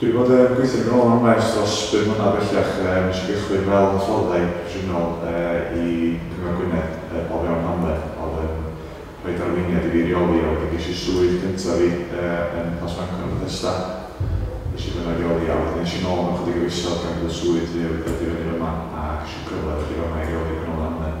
Dw i 'di bod yn gweithio yn ôl am waith dros bum mlynedd bellach, yy nes i gychwyn fel hyfforddai proffesiynol yy i Cyngor Gwynedd yy o fewn hamled a oedd yn rhoid arweiniad i fi i reoli a wedyn ges i swydd cynta fi yy yn Plas Fangor yn Bethesda nes i fynno i reoli a wedyn es i nôl mewn chydig o fisoedd gan bod y swydd newydd wedi dyfynnu fyma a ges i'r cyfle i ddod i fama i reoli canolfan hamled.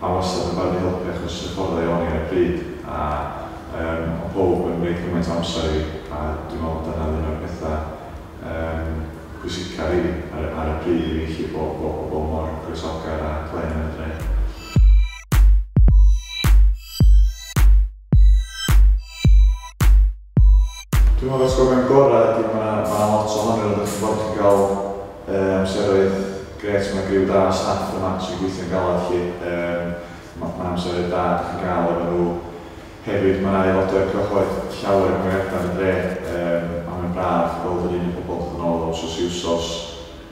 Mae wastad yn barod i helpu achos isio ffordd o'i oni ar y pryd a yym o' powb yn roi cymaint o amser i fi a dwi'n meddwl bod dyna oedd un o'r pethau yym pwysica rili ar y ar y pryd i fi felly bo' bo' pobl mor groesawgar a glên yn y dre. Dwi'n meddwl y atgofion gorau ydy mae 'na mae 'na lot ohonyn nhw, dach chi'n gwybod, chi'n cael yy amseroedd grêt, mae 'na griw da o staff yma sy'n gweithio'n galed 'lly, yym ma' ma'n amseroedd da dach chi'n gael efo nhw. Hefyd mae 'na aelodau o'r cyhoedd llawer yn gweithio ar y dre yym a mae'n braf gweld yr un pobl dod yn ôl o wsos i wsos.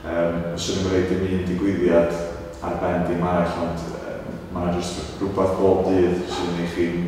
Yym fyswn i'm yn rhoi dim un digwyddiad ar ben dim arall ond yy mae 'na jyst rhywbeth bob dydd sy'n ei chi'n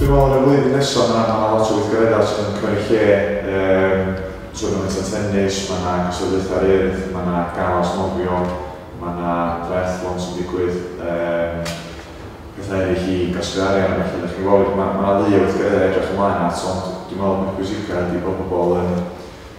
Dwi'n meddwl yn y flwyddyn nesaf mae yna lot o weithgareddau sydd yn cymryd lle, um, twrnament o tennis, mae yna cystadlaethau ryrdd, mae yna galas nofio, mae yna triathlon sy'n digwydd, um, pethau eraill i gasglu arian a felly, felly mae yna ddi o weithgareddau edrych ymlaen at, ond dwi'n meddwl bod pwysica ydy bod pobl yn